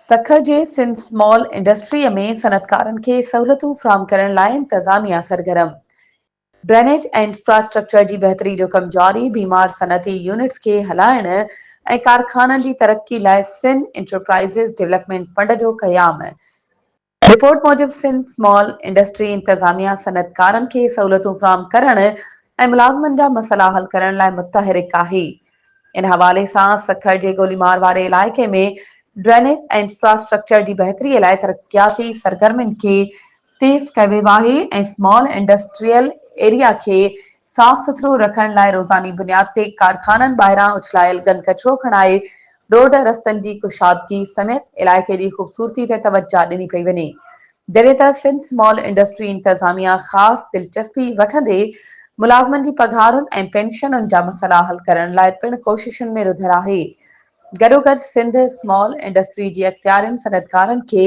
سکر جي سنڌ اسمال انڊسٽريء ۾ صنعتڪارن کي سهولتون فراهم ڪرڻ لاء انتظاميا سرگرم، ڊرينيج ۽ انفراسٽرڪچر جي بهتري جو ڪم جاري، بيمار صنعتي يونٽس کي هلائڻ ۽ ڪارخانن جي ترقي لاء سن انٽرپرائيزز ڊولپمينٽ فنڊ جو قيام، رپورٽ موجب سنڌ سمال انڊسٽري انتظاميا صنعتڪارن کي سهولتون فراهم ڪرڻ ۽ ملازمن جا مسئلا حل ڪرڻ لاء متحرڪ آهي. ان حوالي سان سکر جي گوليمار واري علائقي ۾ ڊرينيج ۽ انفراسٽرڪچر جي بهتري لاء ترقياتي سرگرمين کي تيز ڪيو ويو آهي ۽ سمال انڊسٽريل ايريا کي صاف سٿرو رکڻ لاء روزاني بنياد تي ڪارخانن ٻاهران اڇلايل گند ڪچرو کڻائي روڊ رستن جي ڪشادگي سميت علائقي جي خوبصورتي تي توجه ڏني پئي وڃي جڏهن ته سنڌ سمال انڊسٽري انتظاميا خاص دلچسپي وٺندي ملازمن جي پگهارن ۽ پينشنن جا مسئلا حل ڪرڻ لاء پڻ ڪوششن ۾ رڌل آهي گڏوگڏ سنڌ سمال انڊسٽري جي اختيارين صنعتڪارن کي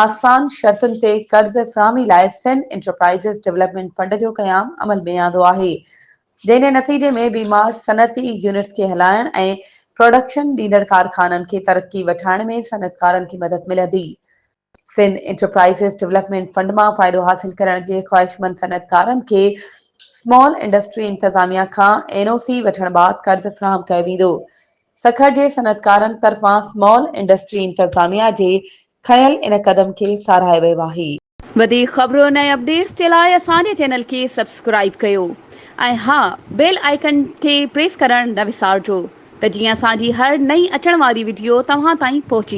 آسان شرطن تي قرض فراهمي لاء سنڌ انٽرپرائيزز ڊولپمينٽ فنڊ جو قيام عمل ۾ آندو آهي جنهن نتيجي ۾ بيمار صنعتي يونٽس کي هلائڻ ۽ پراڊڪشن ڏيندڙ ڪارخانن کي ترقي وٺائڻ ۾ صنعتڪارن کي مدد ملندي. سنڌ انٽرپرائزز ڊولپمينٽ فنڊ مان فائدو حاصل ڪرڻ جي خواهشمند صنعتڪارن کي اسمال انڊسٽري انتظاميا کان اين او سي وٺڻ بعد قرض فراهم ڪيو ويندو. سکر جي صنعتڪارن طرفان سمال انڊسٽري انتظاميا جي کنيل ان قدم کي ساراهي ويو آهي. وڌيڪ خبرن ۽ اپڊيٽس جي لاء اسان جي چينل کي سبسڪرائيب ڪيو ۽ ها بيل آئيڪن کي پريس ڪرڻ نه وسارجو ته جيئن اسان جي هر نئين اچڻ واري وڊيو توهان تائين پهچي